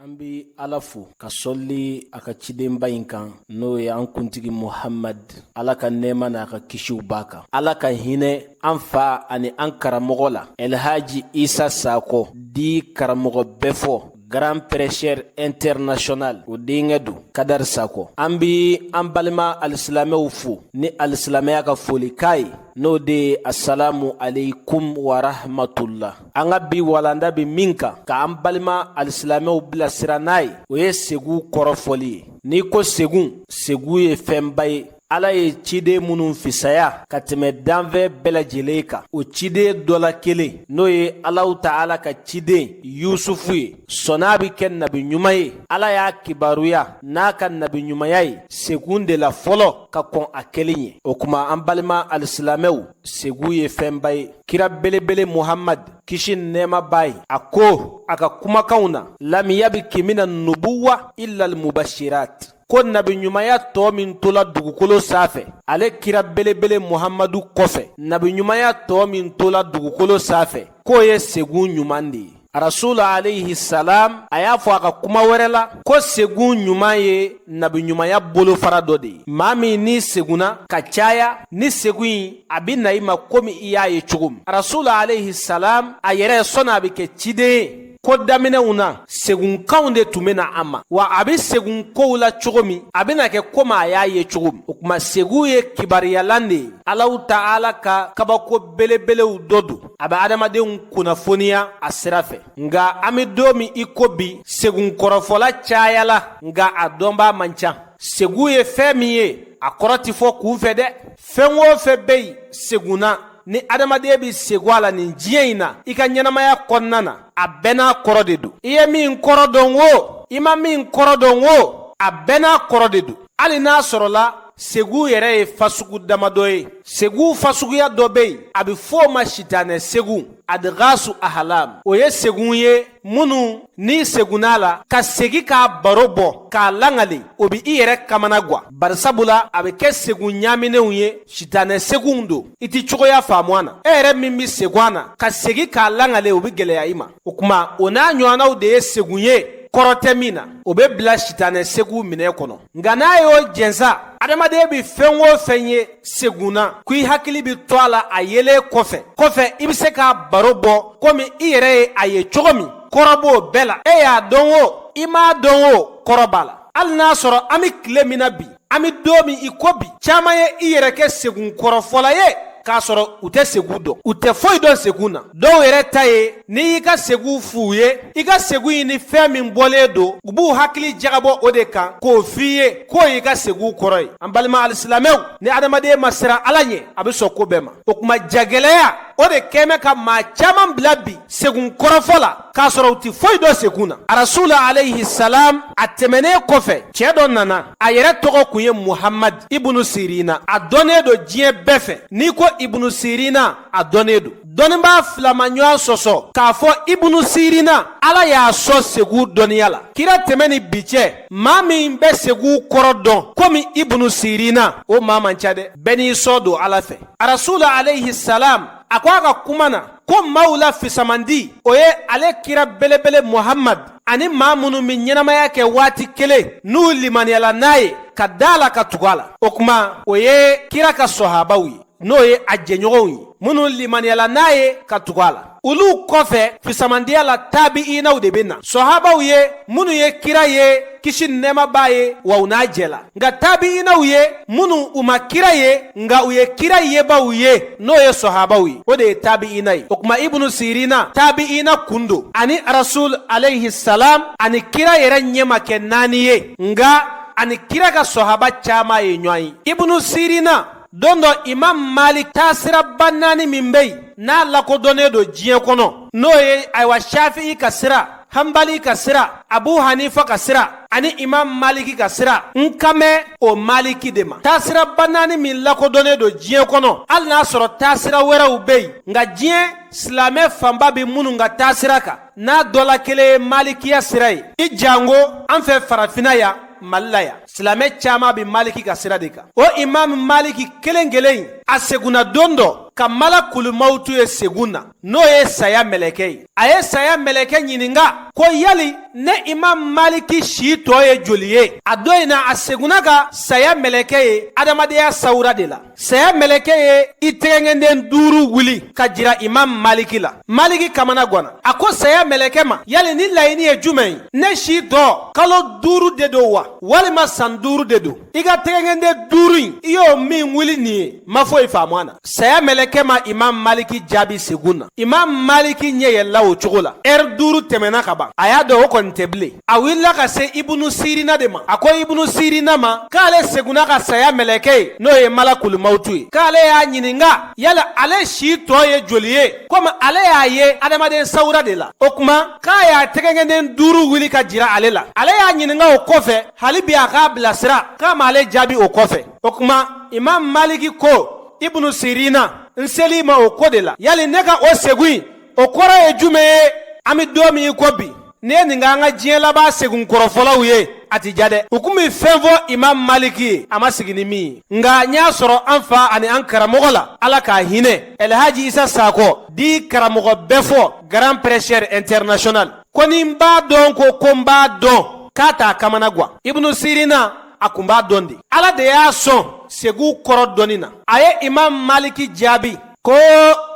an bɛ ala fo ka sɔli a ka cidenba in kan n'o ye an kuntigi muhamad ala ka nɛɛma n'a ka kisiw b'a kan ala ka hinɛ an fa ani an karamɔgɔ la ɛlhaji isa sakɔ dit karamɔgɔ bɛfɔ grand prêcheur international o denkɛ don kadari sakɔ an bi an balima alisilamɛw fo ni alisilamɛya ka folikan ye n'o de ye asalamu aleykum warahmatula an ka bi walanda bɛ min kan k'an balima alisilamɛw bilasira n'a ye o ye segu kɔrɔfɔli ye n'i ko segu segu ye fɛnba ye ala ye ciden minnu fisaya ka tɛmɛ danfɛn bɛɛ lajɛlen kan o ciden dɔ la kelen n'o ye alahu taala ka ciden yusufu ye sɔn'a bi kɛ nabiɲuman ye ala y'a kibaruya n'a ka nabiɲumanya ye segun de la fɔlɔ ka kɔn a kɛlen ɲɛ o kuma an balima alisilamɛw segu ye fɛnba ye kira belebele muhamad kisi nɛɛma b'a ye a ko a ka kumakanw na lam yabki mina nubuwa illa almubashirat ko nabiɲumanya tɔ min tola dugukolo sanfɛ ale kira belebele muhamadu kɔfɛ nabiɲumanya tɔ min tola dugukolo sanfɛ k'o ye segun ɲuman de ye rasulu alayhi salam a y'a fɔ a ka kuma wɛrɛ la ko segun ɲuman ye nabiɲumanya bolofara dɔ de ye maa min n'i segunna ka caya ni segun in a bɛ na i ma komi i y'a ye cogo min rasulu alayhi salam a yɛrɛ sɔnni a bɛ kɛ ciden ye ko daminɛw na segunkanw de tun bɛ na a ma wa a bɛ segun kow la cogo min a bɛna kɛ komi a y'a ye cogo min o kuma segun ye kibariyalan de ye alahu taala ka kabako belebelew dɔ don a bɛ adamadenw kunnafoniya a sira fɛ nka an bɛ don min i ko bi segun kɔrɔfɔla cayala nka a dɔnbaa man ca segu ye fɛn min ye a kɔrɔ tɛ fɔ kunfɛ dɛ fɛn o fɛn bɛ yen segun na ni adamaden bɛ segu a la nin diɲɛ in na i ka ɲɛnamaya kɔnɔna na a bɛɛ n'a kɔrɔ de don i ye min kɔrɔ dɔn o i ma min kɔrɔ dɔn o a bɛɛ n'a kɔrɔ de don hali n'a sɔrɔla Segu yɛrɛ ye fasugu damadɔ ye segu fasuguya dɔ bɛ yen a bɛ fɔ o ma sitanɛ segu adgasu ahlam o ye segun ye minnu n'i segunna a la ka segi k'a baro bɔ k'a langali o bɛ i yɛrɛ kamanagwan barisabula a bɛ kɛ segun ɲaminenw ye sitanɛ segunw don i tɛ cogoya faamu a na e yɛrɛ min bɛ segun a na ka segi k'a langali o bɛ gɛlɛya i ma o kuma o n'a ɲɔgɔnnaw de ye segun ye kɔrɔ tɛ min na o bɛ bila sitanɛ segu minɛn kɔnɔ nka n'a y'o jɛ sa adamaden bɛ fɛn o fɛn ye segun na ko i hakili bɛ to a la a yelen kɔfɛ kɔfɛ i bɛ se k'a baro bɔ komi i yɛrɛ ye a ye cogo min kɔrɔ b'o bɛɛ la e y'a dɔn o i m'a dɔn o kɔrɔ b'a la hali n'a sɔrɔ an bɛ tile min na bi an bɛ don min i ko bi caman ye i yɛrɛ kɛ segun kɔrɔfɔla ye k'a sɔrɔ u tɛ segu dɔn u tɛ foyi dɔn segu na dɔw yɛrɛ ta ye n'i y'i ka segu f'u ye i ka segu in ni fɛn min bɔlen don u b'u hakili jagabɔ o de kan k'o f'i ye k'o y'i ka segu kɔrɔ ye an balima alisilamɛw ni adamaden ma siran ala ɲɛ a bɛ sɔn ko bɛɛ ma o kuma jagɛlɛya o de kɛmɛ ka maa caman bila bi segun kɔrɔfɔ la k'a sɔrɔ u ti foyi dɔn segun na arasul alayhi salam a tɛmɛnen kɔfɛ cɛ dɔ nana a yɛrɛ tɔgɔ kun ye muhamad ibunu sirina a dɔnnen don diɲɛ bɛɛ fɛ n'i ko ibunu sirina a dɔnnen don dɔnnibaa fila ma ɲɔgɔn sɔsɔ k'a fɔ ibunu sirina ala y'a sɔn segu dɔnniya la kira tɛmɛ ni bi cɛ maa min bɛ segu kɔrɔ dɔn komi ibunu sirina o maa man ca dɛ bɛɛ n'i sɔn don ala fɛ arasul alayhi salam a ko a ka kuma na ko maaw la fisamandi o ye ale kira belebele muhamad ani maa minnu bɛ ɲɛnamaya kɛ waati kelen n'u limaniyala n'a ye ka da a la ka tugu a la o kuma o ye kira ka sɔhabaw ye n'o ye a jɛɲɔgɔnw ye minnu limaniyala n'a ye ka tugu a la olu kɔfɛ fisamandiya la tabiinaw de bɛ na sɔhabaw ye minnu ye kira ye kisi nɛɛma b'a ye wa u n'a jɛla nka tabiinaw ye minnu u ma kira ye nka u ye kira yebaw ye n'o ye sɔhabaw ye o de ye tabiina ye o kuma ibunu sirina tabiina kun don a ni arasul alayhi salam a ni kira yɛrɛ ɲɛ ma kɛ naani ye nka a ni kira ka sɔhaba caman ye ɲɔgɔn ye ibunu sirina don dɔ imam malik taasiraba naani min bɛ yen n'a lakodɔnnen don diɲɛ kɔnɔ n'o ye ayiwa shafi'i ka sira hanbali ka sira abu hanifa ka sira ani imam maliki ka sira n kan bɛ o maliki de ma taasiraba naani min lakodɔnnen don diɲɛ kɔnɔ hali n'a sɔrɔ taasira wɛrɛw bɛ yen nka diɲɛ silamɛ fanba bɛ minnu ka taasira kan n'a dɔ la kelen ye malikiya sira ye i janko an fɛ farafinna yan mali la yan silamɛ caman bɛ maliki ka sira de kan o imam maliki kelen kelen in a segunna don dɔ ka malakul mawutu ye segun na n'o ye saya mɛlɛkɛ ye a ye saya mɛlɛkɛ ɲininka ko yali ne imam maliki si tɔ ye joli ye a don in na a segunna ka saya mɛlɛkɛ ye adamadenya sawura de la Saya mɛlɛkɛ ye i tɛgɛngɛnden duuru wuli ka jira imam maliki la maliki kamanagwana a ko saya mɛlɛkɛ ma yali ni laɲini ye jumɛn ye ne si tɔ kalo duuru de don wa walima san duuru de don i ka tɛgɛngɛnden duuru in i y'o min wuli nin ye ma foyi faamu a na saya mɛlɛkɛ ma imam maliki jaabi segun na imam maliki ɲɛ yɛlɛla o cogo la ɛri duuru tɛmɛna ka ban a y'a dɔn o kɔni tɛ bilen a wulila ka se ibunu sirina de ma a ko ibunu sirina ma k'ale segunna ka saya mɛlɛkɛ ye n'o ye malakulimawutu ye k'ale y'a ɲininka yala ale si tɔ ye joli ye komi ale y'a ye adamaden sawura de la o kuma k'a y'a tɛgɛnkɛnden duuru wuli ka jira ale la ale y'a ɲininka o kɔfɛ hali bi a k'a bilasira k'a ma ale jaabi o kɔfɛ o kuma imam maliki ko ibunu sirina n seli ma o ko de la yali ne ka o segu in o kɔrɔ ye jumɛn ye an bɛ don min i ko bi ne ye nin ka an ka diɲɛ laban segun kɔrɔfɔlaw ye a ti ja dɛ u kun bɛ fɛn fɔ imam maliki ye a ma sigi ni min ye nka n y'a sɔrɔ an fa ani an karamɔgɔ la ala k'a hinɛ elhaji isa sakɔ dit karamɔgɔ bɛɛfɔ grand prêcheur international ko ni n b'a dɔn ko ko n b'a dɔn k'a t'a kamana guwan ibunu sirina a kun b'a dɔn de ala de y'a sɔn segu kɔrɔ dɔnni na a ye imam maliki jaabi ko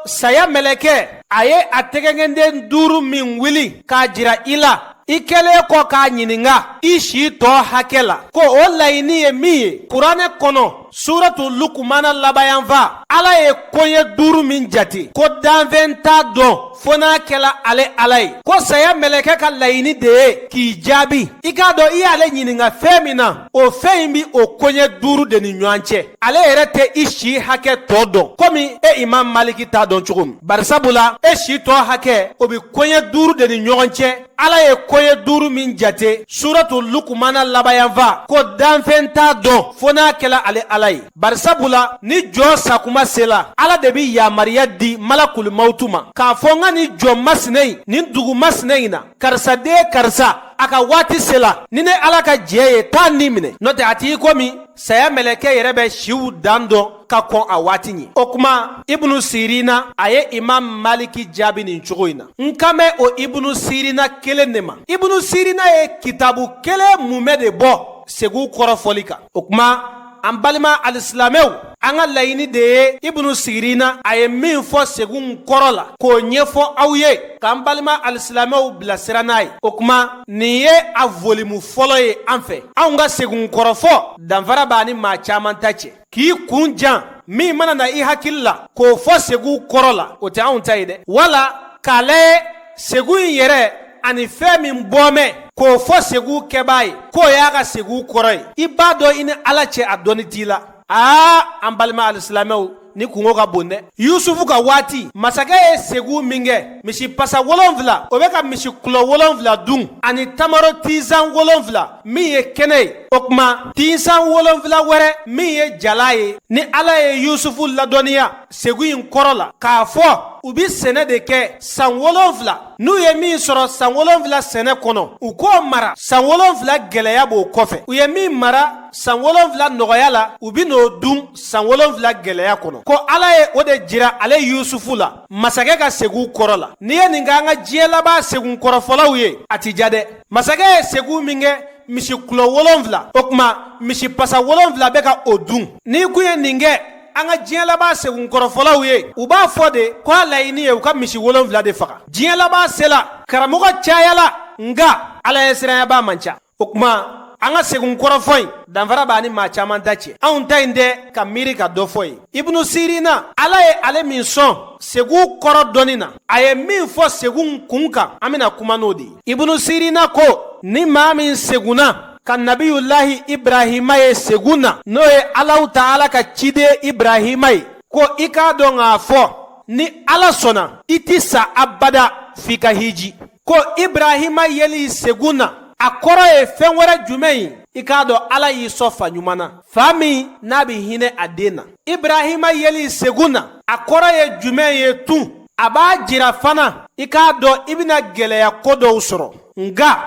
saya mɛlɛkɛ a ye a tɛgɛnkɛnden duuru min wuli k'a jira i la i kɛlen kɔ k'a ɲininka i si tɔ hakɛ la ko o laɲini ye min ye kuranɛ kɔnɔ suratu lukumana laban yanfan ala ye koɲɛ duuru min jate ko danfɛn t'a dɔn fo n'a kɛla ale ala ye ko saya mɛlɛkɛ ka laɲini de ye k'i jaabi i k'a dɔn i y'ale ɲininka fɛn min na o fɛn in bi o koɲɛ duuru de ni ɲɔgɔn cɛ ale yɛrɛ tɛ i si hakɛ tɔ dɔn komi e imam maliki t'a dɔn cogo min barisabu la e si tɔ hakɛ o bɛ koɲɛ duuru de ni ɲɔgɔn cɛ ala ye koɲɛ duuru min jate suratu lukumana laban yanfan ko danfɛn t'a dɔn fo n'a kɛla ale ala ye barisabu la ni jɔn sakuma sela ala de bɛ yamariya di malakulimawutu ma k'a fɔ n ka nin jɔn masina in nin dugu masina in na karisa den karisa a ka waati sela ni ne ala ka jɛn ye taa ni minɛ n'o tɛ a t'i komi saya mɛlɛkɛ yɛrɛ bɛ siw dan dɔn ka kɔn a waati ɲɛ o kuma ibunu sirina a ye imam maliki jaabi nin cogo in na n kan bɛ o ibunu sirina kelen de ma ibunu sirina ye kitabu kelen mumɛ de bɔ segu kɔrɔfɔli kan o kuma an balima alisilamɛw an ka laɲini de ye ibunu sirina a ye min fɔ segun kɔrɔ la k'o ɲɛfɔ aw ye k'an balima alisilamɛw bilasira n'a ye o kuma nin ye a volume fɔlɔ ye an fɛ anw ka segun kɔrɔfɔ danfara b'a ni maa caman ta cɛ k'i kun jan min mana na i hakili la k'o fɔ segu kɔrɔ la o tɛ anw ta ye dɛ wala k'a lajɛ segu in yɛrɛ ani fɛn min bɔmɛ k'o fɔ segu kɛbaa ye k'o y'a ka segu kɔrɔ ye i b'a dɔn i ni ala cɛ a dɔnni t'i la aa an balima alisilamɛw nin kunko ka bon dɛ yusufu ka waati masakɛ ye segu min kɛ misi pasa wolonfila o bɛ ka misi kulɔ wolonfila dun ani tamaro tinsan wolonfila min ye kɛnɛ ye o kuma tinsan wolonfila wɛrɛ min ye jalan ye ni ala ye yusufu ladɔnniya segu in kɔrɔ la k'a fɔ u bi sɛnɛ de kɛ san wolonfila n'u ye min sɔrɔ san wolonfila sɛnɛ kɔnɔ u k'o mara san wolonfila gɛlɛya b'o kɔfɛ u ye min mara san wolonfila nɔgɔya la u bi n'o dun san wolonfila gɛlɛya kɔnɔ ko ala ye o de jira ale yusufu la masakɛ ka segu kɔrɔ la n'i ye nin kɛ an ka diɲɛ laban segun kɔrɔfɔlaw ye a ti ja dɛ masakɛ ye segu min kɛ misi kulɔ wolonfila o kuma misi pasa wolonfila bɛ ka o dun n'i kun ye nin kɛ an ka diɲɛ laban segun kɔrɔfɔlaw ye u b'a fɔ de ko a laɲini ye u ka misi wolonfila de faga diɲɛ laban sela karamɔgɔ cayala nka ala ɲɛsiranyabaa man ca o kuma an ka segun kɔrɔfɔ in danfara b'a ni maa caman ta cɛ anw ta in tɛ ka miiri ka dɔ fɔ ye ibunu sirina ala ye ale min sɔn segu kɔrɔ dɔnni na a ye min fɔ segun kun kan an bɛna kuma n'o de ye ibunu sirina ko ni maa min segunna ka nabiyulahi ibrahima ye segun na n'o ye alahu taala ka ciden ibrahima ye ko i k'a dɔn k'a fɔ ni ala sɔnna i ti sa abada f'i ka hiji ko ibrahima yeli segun na a kɔrɔ ye fɛn wɛrɛ jumɛn ye i k'a dɔn ala y'i sɔn fa ɲuman na fa min n'a bɛ hinɛ a den na ibrahima yeli segun na a kɔrɔ ye jumɛn ye tun a b'a jira fana i k'a dɔn i bɛna gɛlɛya ko dɔw sɔrɔ nka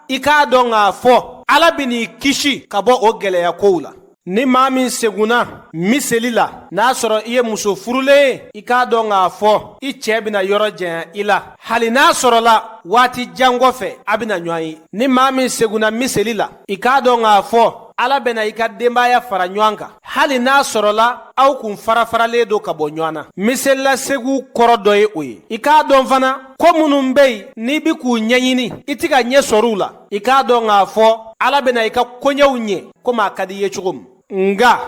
i k'a dɔn k'a fɔ ala bɛ n'i kisi ka bɔ o gɛlɛya kow la ni maa min segunna miseli la n'a sɔrɔ i ye muso furulen ye i k'a dɔn k'a fɔ i cɛ bena yɔrɔ janya i la hali n'a sɔrɔla waati jan kɔfɛ a bena ɲɔgɔn ye ni maa min segunna miseli la i k'a dɔn k'a fɔ ala bena i ka denbaya fara ɲɔgɔn kan hali n'a sɔrɔla aw kun farafaralen don ka bɔ ɲɔgɔn na miseli la segu kɔrɔ dɔ ye o ye i k'a dɔn fana ko minnu be yen n'i be k'u ɲɛɲini i tɛ ka ɲɛ sɔrɔ u la i k'a dɔn k'a fɔ ala bɛna i ka koɲɛw ɲɛ komi a ka di i ye cogo min nka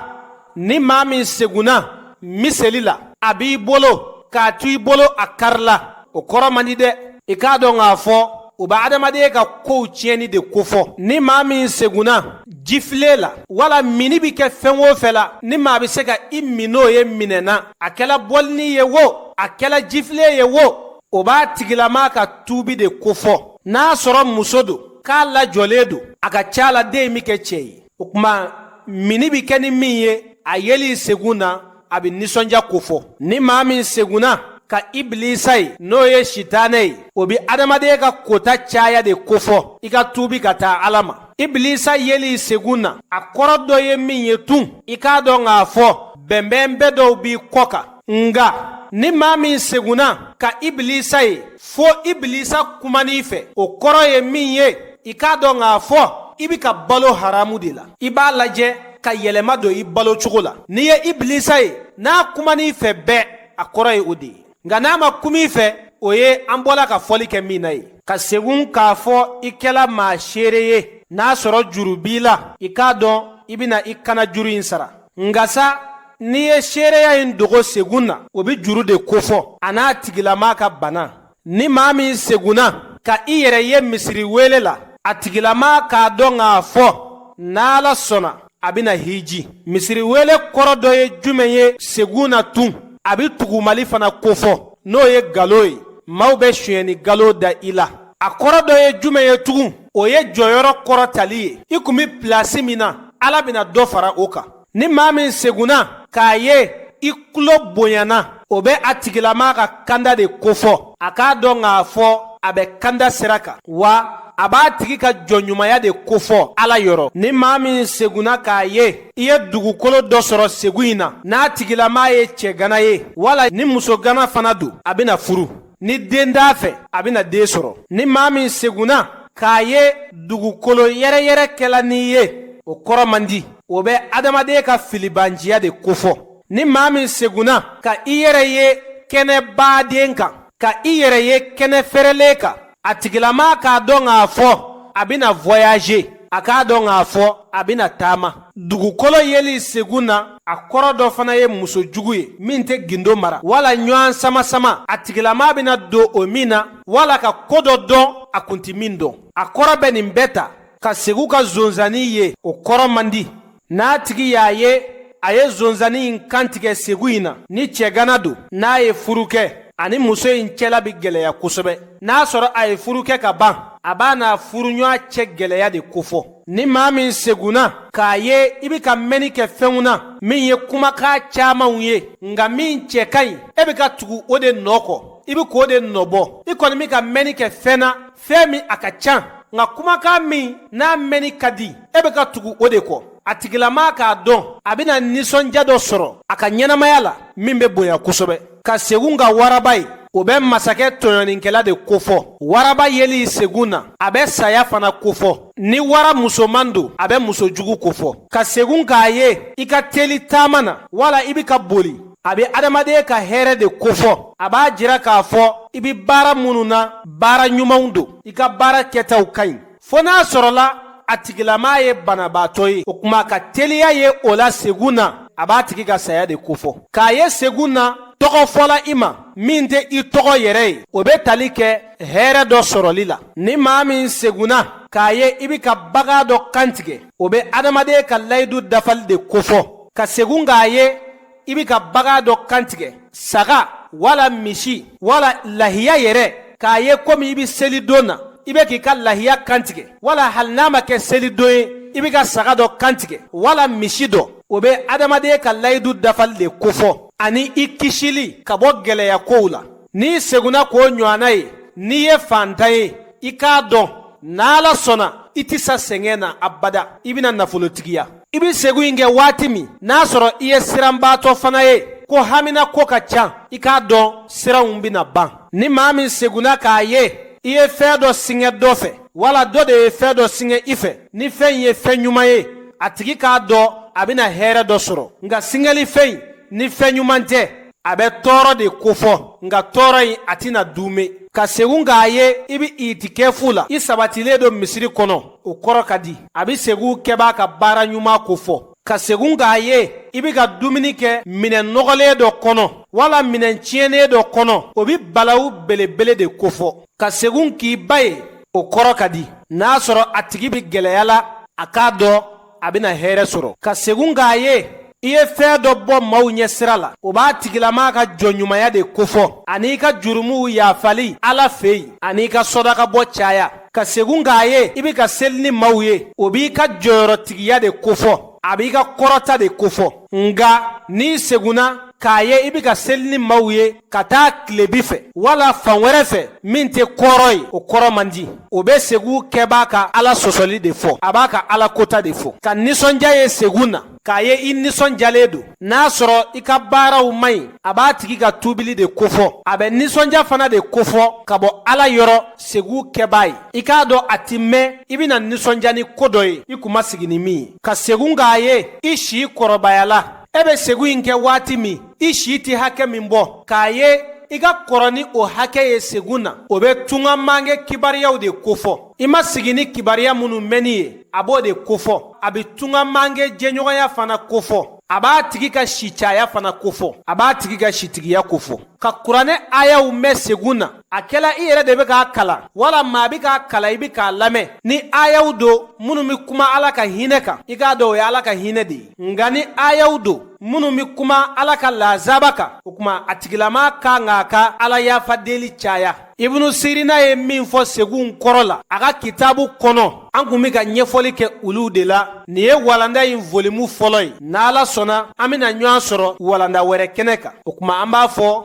ni maa min segunna miseli la a b'i bolo k'a to i bolo a karila o kɔrɔ man di dɛ i k'a dɔn k'a fɔ o bɛ adamaden ka kow tiɲɛni de kofɔ ni maa min segunna jifile la wala minni bɛ kɛ fɛn o fɛn la ni maa bɛ se ka i min n'o ye minɛna a kɛla bɔlini ye wo a kɛla jifile ye wo o b'a tigilama ka tuubi de kofɔ n'a sɔrɔ muso don k'a lajɔlen don a ka ca la den bɛ kɛ cɛ ye o tuma mini bɛ kɛ ni min ye a yeli segun na a bɛ nisɔndiya kofɔ ni maa min segunna ka ibilisa ye n'o ye sitanɛ ye o bɛ adamaden ka kota caya de kofɔ i ka tuubi ka taa ala ma ibilisa yeli segun na a kɔrɔ dɔ ye min ye tun i k'a dɔn k'a fɔ bɛnbɛn bɛɛ dɔw b'i kɔ kan nka ni maa min segunna ka ibilisa ye fo ibilisa kuman'i fɛ o kɔrɔ ye min ye i k'a dɔn k'a fɔ i bi ka balo haramu de la i b'a lajɛ ka yɛlɛma don i balo cogo la n'i ye ibilisa ye n'a kuman'i fɛ bɛɛ a kɔrɔ ye o de ye nka n'a ma kum'i fɛ o ye an bɔla ka fɔli kɛ min na ye ka segun k'a fɔ i kɛla maa seere ye n'a sɔrɔ juru b'i la i k'a dɔn i bɛna i kanna juru in sara nka sa n'i ye seereya in dogo segun na o bɛ juru de kofɔ a n'a tigilama ka bana ni maa min segunna ka i yɛrɛ ye misiri wele la a tigilama k'a dɔn k'a fɔ n'ala sɔnna a bɛna hiji misiri wele kɔrɔ dɔ ye jumɛn ye segun na tun a bɛ tugumali fana kofɔ n'o ye galo ye maaw bɛ sonyɛni galo da i la a kɔrɔ dɔ ye jumɛn ye tugun o ye jɔyɔrɔ kɔrɔtali ye i kun bɛ pilasi min na ala bɛna dɔ fara o kan ni maa min segunna k'a ye i tulo bonyana o bɛ a tigilama ka kanda de kofɔ a k'a dɔn k'a fɔ a bɛ kanda sira kan wa a b'a tigi ka jɔnɲumanya de kofɔ ala yɔrɔ ni maa min segunna k'a ye i ye dugukolo dɔ sɔrɔ segu in na n'a tigilama ye cɛgana ye wala ni musogana fana don a bɛna furu ni den t'a fɛ a bɛna den sɔrɔ ni maa min segunna k'a ye dugukolo yɛrɛyɛrɛ kɛla n'i ye o kɔrɔ man di o bɛ adamaden ka filibanciya de kofɔ ni maa min segunna ka i yɛrɛ ye kɛnɛbaden kan ka i yɛrɛ ye kɛnɛ fɛrɛlen kan a tigilama k'a dɔn k'a fɔ a bɛna voyager a k'a dɔn k'a fɔ a bɛna taama dugukolo yeli segun na a kɔrɔ dɔ fana ye muso jugu ye min tɛ gindo mara wala ɲɔgɔn samasama a tigilama bɛna don o min na wala ka ko dɔ dɔn a kun tɛ min dɔn a kɔrɔ bɛ nin bɛɛ ta ka segu ka zonzani ye o kɔrɔ man di n'a tigi y'a ye a ye zonzani in kantigɛ segu in na ni cɛgana don n'a ye furu kɛ a ni muso in cɛla bɛ gɛlɛya kosɛbɛ n'a sɔrɔ a ye furu kɛ ka ban a b'a n'a furuɲɔgɔn cɛ gɛlɛya de kofɔ ni maa min segunna k'a ye i bɛ ka mɛnni kɛ fɛnw na min ye kumakan camanw ye nka min cɛ ka ɲi e bɛ ka tugu o de nɔ kɔ i bɛ k'o de nɔbɔ i kɔni bɛ ka mɛnni kɛ fɛn na fɛn min a ka can nka kumakan min n'a mɛnni ka di e bɛ ka tugu o de kɔ a tigilama k'a dɔn a bɛna nisɔndiya dɔ sɔrɔ a ka ɲɛnamaya la min bɛ bonya kosɛbɛ ka segun ka waraba ye o bɛ masakɛ tɔɲɔnikɛla de kofɔ waraba yeli segun na a bɛ saya fana kofɔ ni wara musoman don a bɛ muso jugu kofɔ ka segun k'a ye i ka teli taama na wala i bɛ ka boli a bɛ adamaden ka hɛrɛ de kofɔ a b'a jira k'a fɔ i bɛ baara minnu na baara ɲumanw don i ka baara kɛtaw ka ɲi fo n'a sɔrɔla a tigilamaa ye banabaatɔ ye o kuma ka teliya ye o la segun na a b'a tigi ka saya de kofɔ k'a ye segun na tɔgɔ fɔla i ma min tɛ i tɔgɔ yɛrɛ ye o bɛ tali kɛ hɛrɛ dɔ sɔrɔli la ni maa min segunna k'a ye i bɛ ka bagan dɔ kantigɛ o bɛ adamaden ka layidu dafali de kofɔ ka segun k'a ye i bɛ ka bagan dɔ kantigɛ saga wala misi wala lahiya yɛrɛ k'a ye komi i bɛ seli don na i bɛ k'i ka lahiya kantigɛ wala hali n'a ma kɛ seli don ye i bɛ ka saga dɔ kantigɛ wala misi dɔ o bɛ adamaden ka layidu dafali de kofɔ ani i kisili ka bɔ gɛlɛya kow la n'i segunna k'o ɲɔgɔnna ye n'i ye faantan ye i k'a dɔn n'ala sɔnna i tɛ sa sɛgɛn na abada i bɛna nafolotigiya i bɛ segun in kɛ waati min n'a sɔrɔ i ye siranbaatɔ fana ye ko haminako ka ca i k'a dɔn siranw bɛna ban ni maa min segunna k'a ye i ye fɛn dɔ singɛ dɔ fɛ wala dɔ de ye fɛn dɔ singɛ i fɛ ni fɛn in ye fɛn ɲuman ye a tigi k'a dɔn a bɛna hɛrɛ dɔ sɔrɔ nka singɛli fɛn in ni fɛn ɲuman tɛ a bɛ tɔɔrɔ de kofɔ nka tɔɔrɔ in a tɛna duumɛ ka segun k'a ye i bɛ itikɛfu la i sabatilen don misiri kɔnɔ o kɔrɔ ka di a bɛ segun kɛbaa ka baara ɲuman kofɔ ka segun k'a ye i bɛ ka dumuni kɛ minɛn nɔgɔlen dɔ kɔnɔ wala minɛn tiɲɛnen dɔ kɔnɔ o bɛ balawu belebele de kofɔ ka segun k'i ba ye o kɔrɔ ka di n'a sɔrɔ a tigi bɛ gɛlɛya la a k'a dɔn a bɛna hɛrɛ sɔrɔ ka segun k'a ye i ye fɛn dɔ bɔ maaw ɲɛ sira la o b'a tigilamaa ka jɔnɲumanya de kofɔ an'i ka jurumuw yafali ala fɛ yen an'i ka sɔdakabɔ caya ka segun k'a ye i bɛ ka seli ni maaw ye o b'i ka jɔyɔrɔtigiya de kofɔ a b'i ka kɔrɔta de kofɔ nka n'i segunna k'a ye i bɛ ka seli ni maaw ye ka taa tilebi fɛ wala fan wɛrɛ fɛ min tɛ kɔrɔn ye o kɔrɔ man di o bɛ segun kɛbaa ka ala sɔsɔli de fɔ a b'a ka ala kota de fɔ ka nisɔndiya ye segun na k'a ye i nisɔndiyalen don n'a sɔrɔ i ka baaraw man ɲi a b'a tigi ka tuubili de kofɔ a bɛ nisɔndiya fana de kofɔ ka bɔ ala yɔrɔ segun kɛbaa ye i k'a dɔn a tɛ mɛɛn i bɛna nisɔndiya ni ko dɔ ye i kun ma sigi ni min ye ka segun k'a ye i si kɔrɔbayala e bɛ segun in kɛ waati min i si tɛ hakɛ min bɔ k'a ye i ka kɔrɔ ni o hakɛ ye segun na o bɛ tunga mange kibariyaw de kofɔ i ma sigi ni kibariya minnu mɛnni ye a b'o de kofɔ a bɛ tunga mange jɛɲɔgɔnya fana kofɔ a b'a tigi ka si caya fana kofɔ a b'a tigi ka sitigiya kofɔ ka kuranɛ ayaw mɛn segun na a kɛla i yɛrɛ de bɛ k'a kalan wala maa bɛ k'a kalan i bɛ k'a lamɛn ni ayaw don minnu bɛ kuma ala ka hinɛ kan i k'a dɔn o ye ala ka hinɛ de ye nka ni ayaw don minnu bɛ kuma ala ka lazaba kan o tuma a tigilamaa ka kan k'a ka ala yafa deli caya ibunu sirina ye min fɔ segun kɔrɔ la a ka kitabu kɔnɔ an kun bɛ ka ɲɛfɔli kɛ olu de la nin ye walanda in volimu fɔlɔ ye n'ala sɔnna an bɛna ɲɔgɔn sɔrɔ walanda wɛrɛ kɛnɛ kan o tuma an b'a fɔ